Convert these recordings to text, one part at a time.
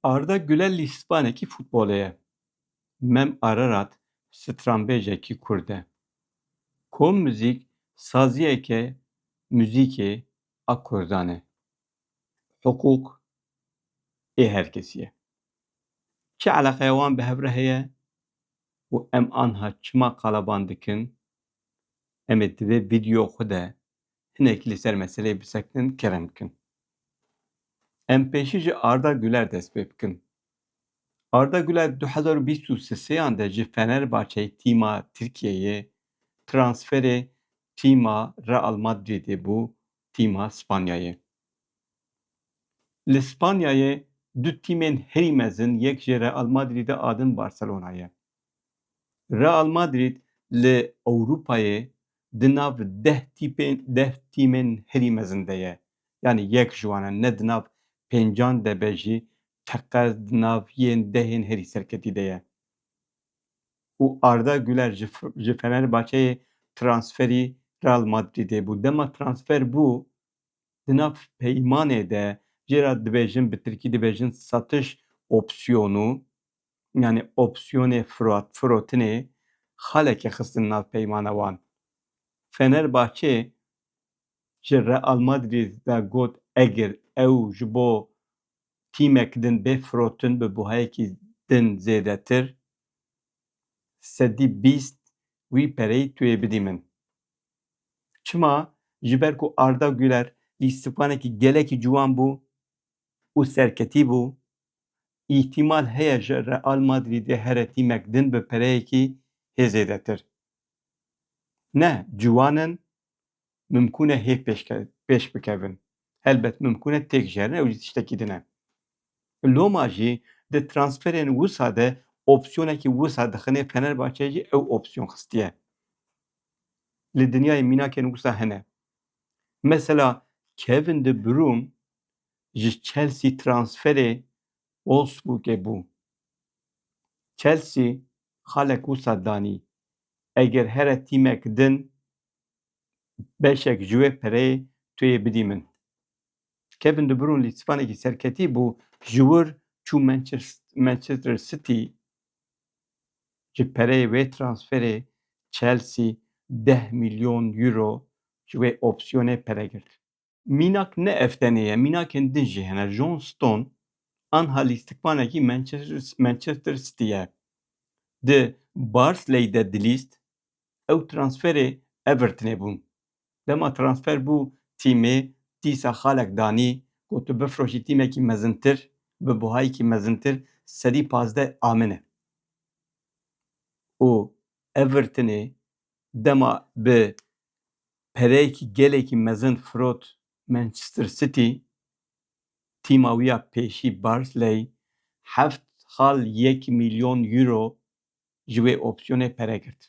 Arda Güler lîspanekî futbolê ye. Mem Ararat stranbêjekî kurd e. Kom muzîk saziyeke muzîkê a kurdan e. Hiqûq ê her kesî ye. Çi eleqeya wan bi hev re heye û em anha çima qalaban dikin, em ê di vê vîdyoya xwe de hinek li ser meseleyê bisekinin kerem bikin. Em pêşî ji Arda Guler dest pê bikin. Arda Guler du hezar û bîst û seseyan de ji Fenerbahçeyê tîma Tirkiyeyê transferê tîma Real Madridê bû tîma Spanyayê. Li Spanyayê du tîmên herî mezin yek ji Real Madridê a din Barcelona ye. Real Madrid li Ewropayê di nav deh tîpên deh tîmên herî mezin de ye. Yanî yek ji wan e ne di nav pêncan de be jî teqez di nav yên dehên herî serketî de ye. Û Arda Guler ji ji Fenerbahçeyê transferî Real Madrîdê bû. Dema transfer bû di nav peymanê de jê re dibêjin bi tirkî dibêjin satiş opsiyonu yanî opsiyonê firotinê xaleke xistin nav peymana wan. Fenerbahçe ji Real Madrid ve got egir ew ji bo tîmek din bê firotin bi buhayekî din zêdetir, sedî bîst, wî pereyî tu yê bidî min. Çima? Ji ber ku Arda Guler îstifanekî gelekî ciwan bû. û serketî bû, îhtimal heye ji Real Madrîdê here tîmek din bi pereyekî hê zêdetir. Ne ciwan in, mimkûn e hê pêş bikevin. Helbet mimkûn e têk jerin ew jî tiştekî din e. Loma jî di transferên wisa de opsiyonekî wisa dixinê Fenerbahçe jî ew opsiyon xistiye. Li dinyayê mînakên wisa hene. Mesela Kevin De Bruyne ji Chelsea transferê Wolfsburgê bû. Chelsea xalek wisa danî, Eger here tîmek din beşek ji wê pereyê tu yê bidî min. Kevin De Bruyne lê spanekî serketî bû ji wir çû Manchester City ji pereyê wê transferê Chelsea deh milyon euro ji wê opsiyonê pere girt. Mînak ne ev tenê ye, mînakên din jî hene. John Stone anha lîstikvanekî Manchester City'ye. Di Barsley de dilîst, ew transferê Everton'ê bûn. Dema transfer bû tîmê, dîsa xalek danî ku tu bifroşî tîmekî mezintir bi buhayekî mezintir sedî pazdeh a min e. Û Everton'ê Dema bi pereyekî gelekî mezin firot Manchester City, tîma wî ya pêşî Barclay heft xal yek mîlyon euro ji wê opsiyonê pere girt.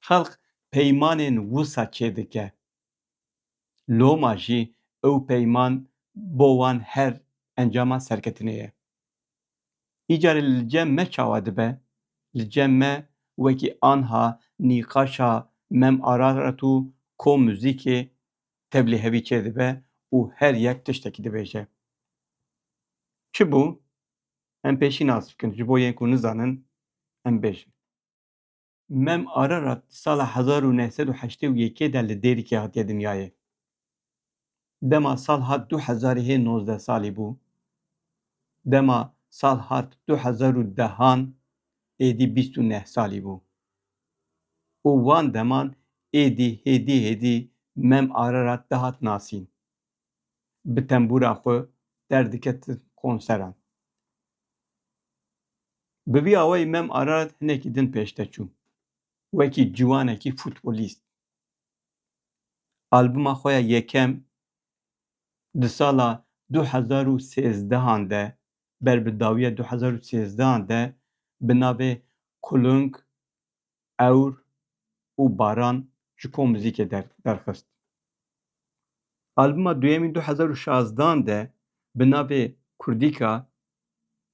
Xelk peymanên wisa çêdike. Loma jî ew peyman bo wan her encama serketinê ye. Îcarê li cem me çawa dibe? Li cem me wekî anha nîqaşa Mem Ararat û Ko Muzîkê tevlî hevî çêdibe û her yek tiştekî dibêje. Çi bû? Em pêşî nas bikin ji bo yên ku nizanin em bêjin. Mem Ararat di sala hezar û neh sed û heştê û yekê de li Dêrikê hatiye dinyayê. Dema sal hat du hezarê hê nozdeh salî bû. Dema sal hat du hezar û dehan êdî bîst û neh salî bû. Û wan deman êdî hêdî hêdî Mem Ararat dihat nasîn. bi tembûra xwe derdiketin konseran. Bi vî awayî Mem Arar hinekî din pêşde çû wekî ciwanekî futbolîst. Albuma xwe ya yekem di sala du hezar û sêzdehan de ber bi dawiya du hezar û sêzdehan de bi navê Kulung ewr û baran ji kom muzîkê derxist. Albuma duyemîn du hezar û şazdan de bi navê Kurdîka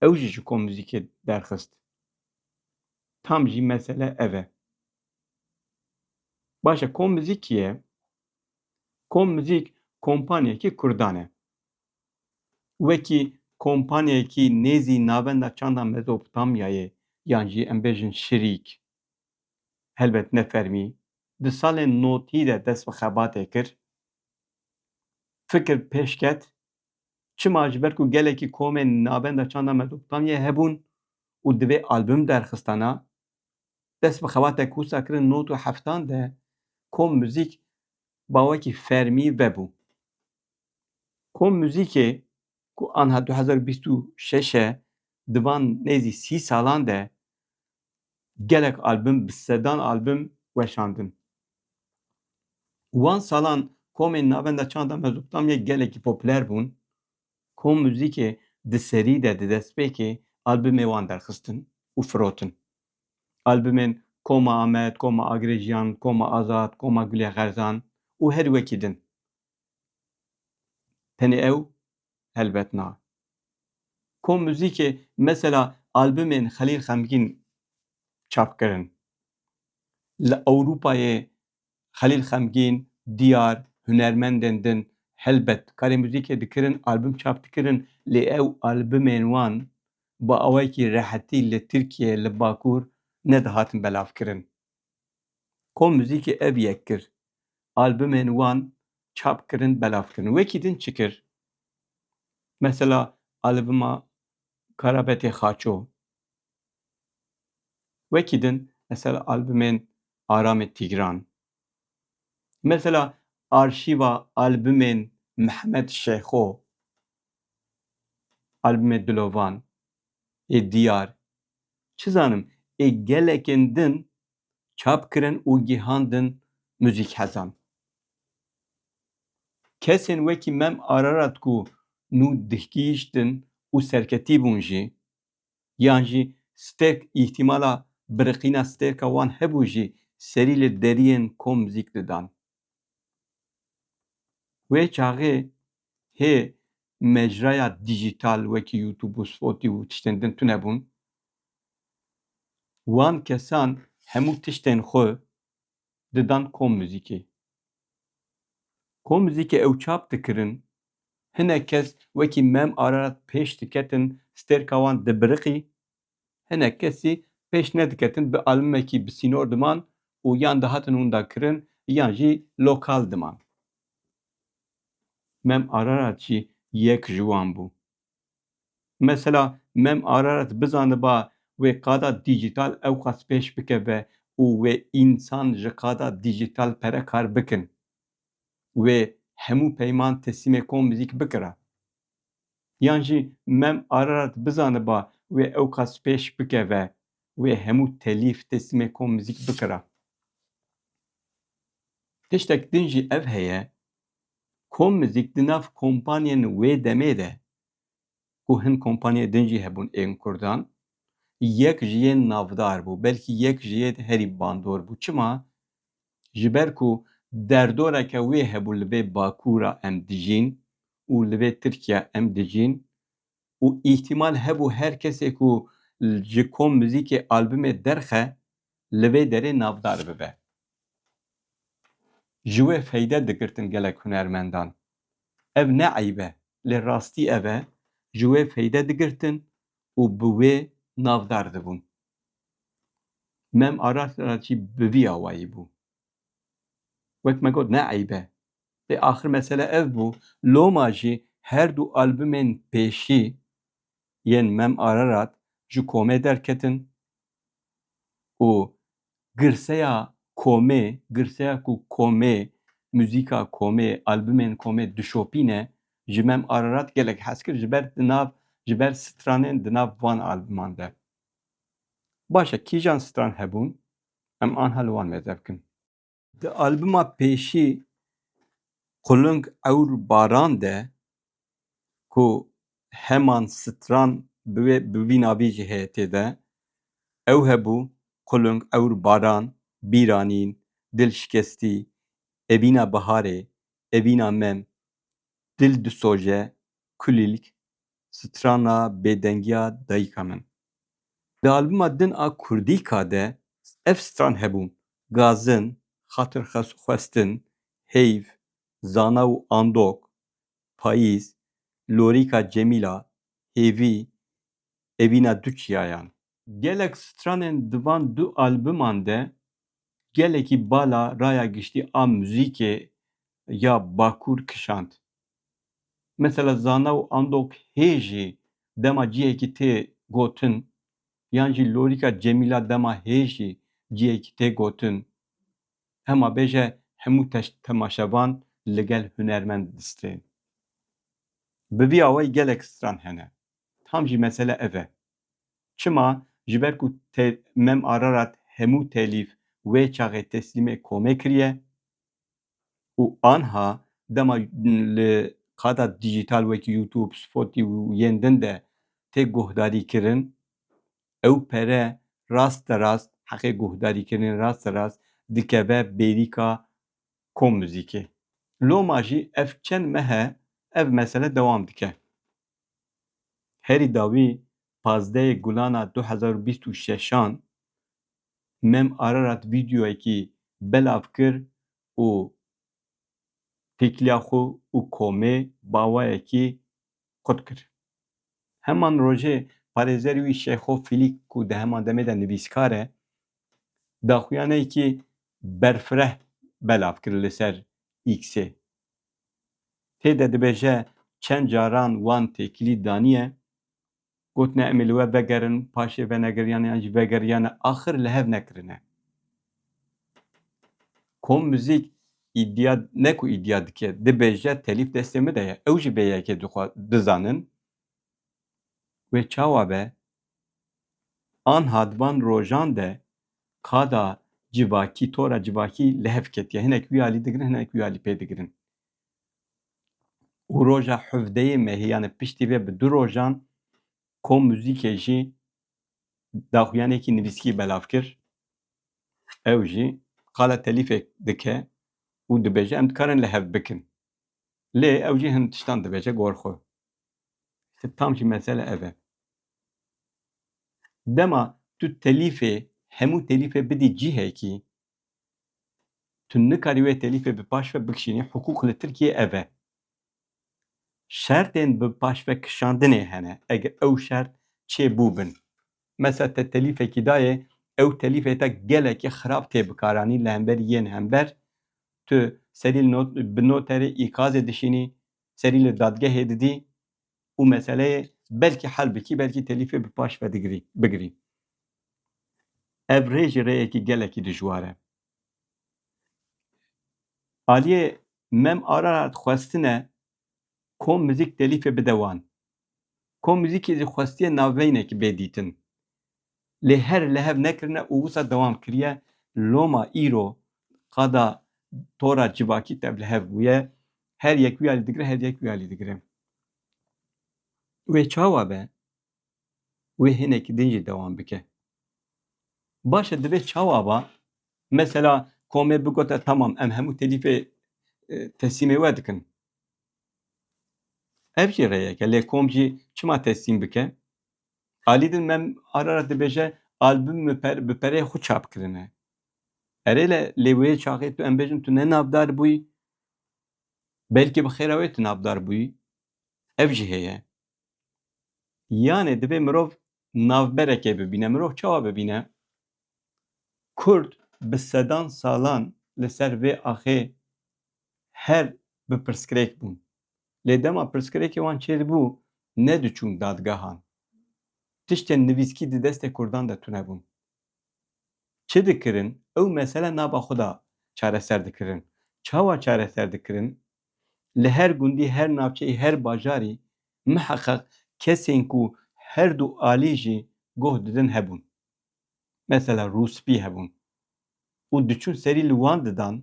ew jî ji kom muzîkê derxist. Tam jî mesele ev e. Baş e kom muzîk kî ye? Kom muzîk kompaniyekî kurdan e. wekî kompanyayekî nêzî navenda çanda Mezopotamyayê yan jî em bêjin şirîk, helbet ne fermî, di salên notî de dest bi xebatê kir. Fikir pêş ket, çima ji ber ku gelekî komên navenda çanda Mezopotamyayê hebûn û divê album derxistana, dest bi xebatek wisa kirin not û heftan de kom muzîk bawekî fermî vebû. Kom muzîkê ku anha du hezar û bîst û şeş e di van nêzî sî salan de gelek album bi sedan album weşandin. Wan salan komên navenda çanda Mezopotamyayê gelekî popüler bûn. Kom muzîkê di serî de di destpêkê albumê wan derxistin û firotin. Albumên Koma Amed, Koma Agirê Jiyan, Koma Azad, Koma Gulê Xerzan û herî wekî din Tenê ew helbet na. Kom muzîkê mesela albumên Xelîl Xemgîn çap kirin. Li Ewropayê Xelîl Xemgîn, Diyar, hunermendên din helbet karê muzîkê dikirin, album çap dikirin lê ew albumên wan bi awayekî rehetî li Tirkiyeyê li Bakur nedihatin belavkirin. Kom muzîkê ev yek kir. Albumên wan çap kirin, belav kirin. Wekî din çi kir? Mesela albuma Karabetê Xaço. Wekî din mesela albumên Aramê Tîgran. Mesela arşîva albumên Mihmed Şêxo. Albumê Dilovan. Ê diyar, çi zanim ê gelekên din çap kirin û gihandin muzîkhezan. Kesên wekî Mem Ararat ku nû dihgihîştin û serketî bûn jî yan jî stêrk îhtîmala biriqîna stêrka wan hebû jî serî li deriyên kom zîk didan. Wê çaxê hê mecraya dîjîtal wekî YouTube û Spotî û tiştên din tune bûn. Wan kesan hemû tiştên xwe didan kom muzîkê. Kom muzîkê ew çap dikirin, hinek kes wekî Mem Ararat pêş diketin, stêrka wan dibiriqî Hinek kesî pêş nediketin bi albumekî bi sînor diman û yan dihatin winda kirin yan jî lokal diman. Mem Ararat jî yek ji wan bû. Mesela Mem Ararat bizaniba wê qada dîjîtal ewqas pêş bikeve û wê însan ji qada dîjîtal pere kar bikin. Wê hemû peyman teslîmê kom muzîk bikira. Yan jî Mem Ararat bizaniba wê ewqas pêş bikeve, wê hemû telîf têslimê kom mizîk bikira. Tiştek din jî ev heye, kom mizîk di nav kompanyên wê demê de ku hin kompanyê din jî hebûn ên kurdan, yek ji yên navdar bû, belkî yek ji yê de herî bandor bû. Çima? Ji ber ku derdoreke wê hebû li vê bakûra em dijîn û li vê Tirkiya em dijîn û îhtîmal hebû her kesê ku ji kom muzîkê albumê derxe li vê derê navdar bibe. Ji wê feyde digirtin gelek hunermendan. Ev ne eyb e lê rastî ev e ji wê feyde digirtin û bi wê navdar dibûn. Mem Aras re jî bi vî awayî bû. Wek me got ne eyb e. Lê axir mesele ev bû loma jî her du albumên pêşî yên Mem Ararat ji komê derketin û girseya komê, girseya ku komê, muzîka komê, albumên komê dişopîne, ji Mem Ararat gelek hez kir ji ber di nav, ji ber stranên di nav van albuman de. Baş e kîjan stran hebûn, em anha li wan mêz ev kin. Di albuma pêşî Quling Ewr Baran de ku heman stran bi wê bi vî navî jî heye tê de, ew hebû, Quling Ewr Baran, Bîranîn, Dil Şikestî, Evîna Biharê, Evîna Mem, Dil Disoje, Kulîlk, strana bêdengiya dayika min. Di albuma din a Kurdîka de ev stran hebûn, Gazin, Xatir xwestin, Heyv, Zana û Andok, Payîz, Lorîka Cemîla, Hêvî, Evîna du çiyayan. Gelek stranên di van du albuman de gelekî bala raya giştî a muzîkê ya Bakur kişand. Mesela zana û andok hê jî dema cihekî tê gotin yan jî lorîka Cemîla dema hê jî cihekî tê gotin. Hema bêje hemû temaşevan li gel hunermend distên. Bi vî awayî gelek stran hene. Tam jî mesele ev e. Çima? Ji ber ku te Mem Ararat hemû telîf wê çaxê teslîmê komê kiriye û anha dema li qada dîjîtal wekî YouTube, Spotî û yên din de tê guhdarîkirin, ew pere rasterast, heqê guhdarîkirinê rasterast dikeve bêrîka Kom Muzîkê. Loma jî ev çend mehe ev mesele dewam dike. Herî dawî pazdeyê gulana du hezar û bîst û şeşan Mem Ararat vîdeoyekî belav kir û têkiliya xwe û komê bawayekî qut kir. Heman rojê parêzerê wî Şeyxo Fîlîk ku di heman demê de nivîskar e, daxuyaneyekî berfireh belav kir li ser Îksê. Tê de dibêje çend caran wan têkilî daniye, gotine em ê li we vegerin, paşê venegeriyane yan jî vegeriyane axir li hev nekirine. Kom muzîk îdia ne ku îdia dike, dibêje telîf destê min de ye. Ew jî vê yekê dixwe bizanin. Wê çawa be Anha di van rojan de qada civakî, tora civakî li hev ketiye. Hinek wî alî digirin, hinek wî alî pê digirin. Û roja hevdeyê mehê yanê piştî vê bi du rojan kom muzîkê jî daxuyanekî nivîskî belav kir. Ew jî qala telîfek dike û dibêje em dikarin li hev bikin. Lê ew jî hin tiştan dibêje gor xwe. Îşte tam jî mesele ev e. Dema tu telîfê hemû telîfê bidî cihekî tu nikarî wê telîfê bi paş ve bikişînî hiqûq li Tirkiyeyê ev e. Şertên bi paş ve kişandinê hene eger ew şert çê bû bin. Mesela te telîfekî dayê ew telîfê te gelekî xirab tê bikaranî li hemberî yên hember tu serî li bi noterê îkazê dişînî serî li dadgehê didî û meseleyê belkî hel bikî belkî telîfê bi paş ve digirî bigirî. Ev rê jî rêyekî gelekî dijwar e. Aliyê Mem Ararat xwestine kom muzîk telîfê bide wan. Kom muzîkê zî xwestiye navbeynekî bê dîtin. Lê her lehev nekirine û wisa dewam kiriye. Loma îro qada tora civakî tevlihev bûye. Her yek wî alî digire, her yek wî alî digire. Wê çawa be? Wê hinekî din jî dewam bike. Baş e divê çawa ba? Mesela komê bigote tamam em hemû telîfê teslîmê we dikin. Ev jî rêyek e lê kom jî çima teslîm bike? Alî din mem Ararat dibêje albûm bi pereyê xwe çap kirine. Erê le lê wê çaxê tu em bêjin tu ne navdar bûyî belkî bi xêra wê tu navdar bûyî ev jî heye. Yanê divê mirov navberekê bibîne. Mirov çawa bibîne? Kurd bi sedan salan li ser vê axê her bi pirsgirêk bûn. Lê dema pirsgirêkê wan çêdibû, nediçûn dadgehan. Tiştên nivîskî di destê Kurdan de tune bûn. Çi dikirin, ew mesele nava xwe de çareser dikirin. Çawa çareser dikirin? Li her gundî, her navçeyî, her bajarî miheqeq kesên ku her du alî jî goh didin hebûn. Mesela rûspî hebûn. Û diçûn serî li wan didan,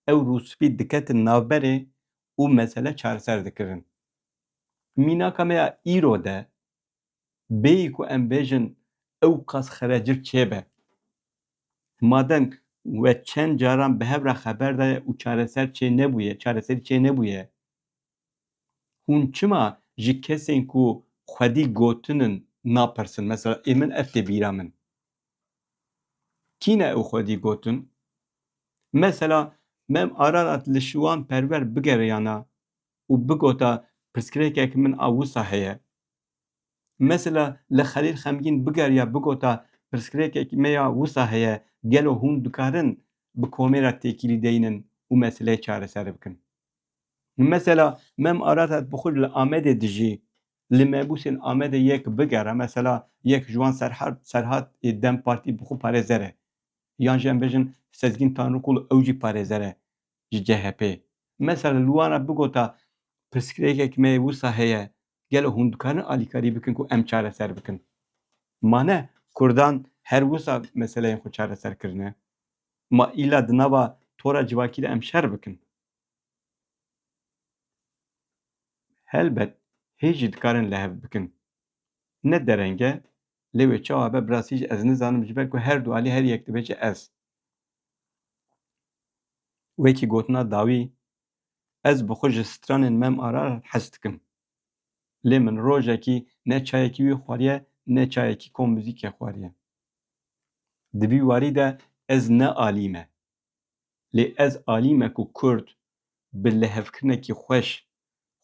ew rûspî diketin navberê û mesele çareser dikirin. Mînaka me ya îro de bêyî ku em bêjin ewqas xerecik çêbe, madem we çend caran bi hev re xeber daye û çareser çê nebûye, çareserî çê nebûye, hûn çima ji kesên ku xwedî gotin in napirsin? Mesela ê min ev tê bîra min. Kîne û xwedî gotin, Mesela Mem Ararat li Şiwan Perwer bigeriyana û bigota pirsgirêkek min a wisa heye. Mesela li Xelîl Xemgîn bigeriya bigota pirsgirêkek me ya wisa heye, gelo hûn dikarin bi komê re têkilî deynin û meseleyê çareser bikin? Mesela Mem Ararat bi xwe li Amedê dijî li mebûsên Amedê yek bigere, mesela yek ji wan Serhat ê dem Partî bi xwe parêzer e, yan jî em bêjin Sezgîn Tanrikul ew jî parêzer e ji CHP'ê. Mesela li wan re bigota pirsgirêkek me wisa heye, gelo hûn dikarin alîkarî bikin ku em çareser bikin? Ma ne kurdan her wisa meseleyên xwe çareser kirine. Ma îla di nava tora civakî de em şer bikin. Helbet hêj jî dikarin li hev bikin. Ne dereng e lê wê çawa be bi rastî jî ez nizanim ji ber ku her du alî her yek dibe ji ez. Wekî gotina dawî ez bi xwe ji stranên me ma re hez dikim. Lê min rojekî ne çayekî wî xwariye ne çayekî kom muzîkê xwariye. Di vî warî de ez ne alî me Lê ez alî me ku kurd bi lihevkirinekî xweş,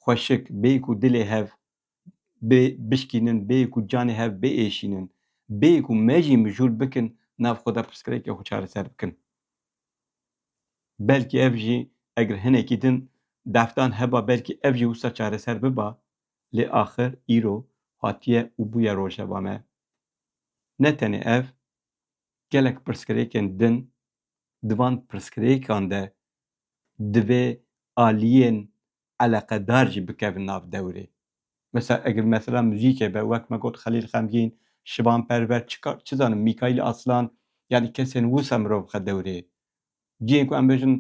xweşik bêyî ku dilê hev bê bişkînin, bêyî ku canê hev biêşînin, bêyî ku me jî mijûl bikin nav xwe de pirsgirêkê xwe çareser bikin. Belkî ev jî eger hinekî din deftan heba belkî ev jî wisa çareser biba lê axir îro hatiye û bûye rojeva me. Ne tenê ev, Gelek pirsgirêkên din, di van pirsgirêkan de divê aliyên eleqedar jî bikevin nav dewrê. Mesela eger mesela muzîkê be, wek me got Xelîl Xemgîn, Şivan Perver, çikar, çi zanim Mîkaîl Aslan yanî kesên wisa mirov bixe dewrê. Cihên ku em bêjin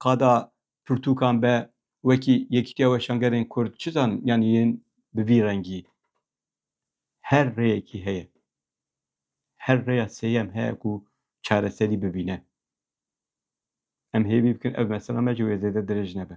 qada pirtûkan be wekî Yekîtiya Weşangerên Kurd, çi zanim yanî yên bi vî rengî. Her rêyekî heye. Her rêya sêyem heye ku çareserî bibîne. Em hêvî bikin ev mesela me ji wê zêde dirêj nebe.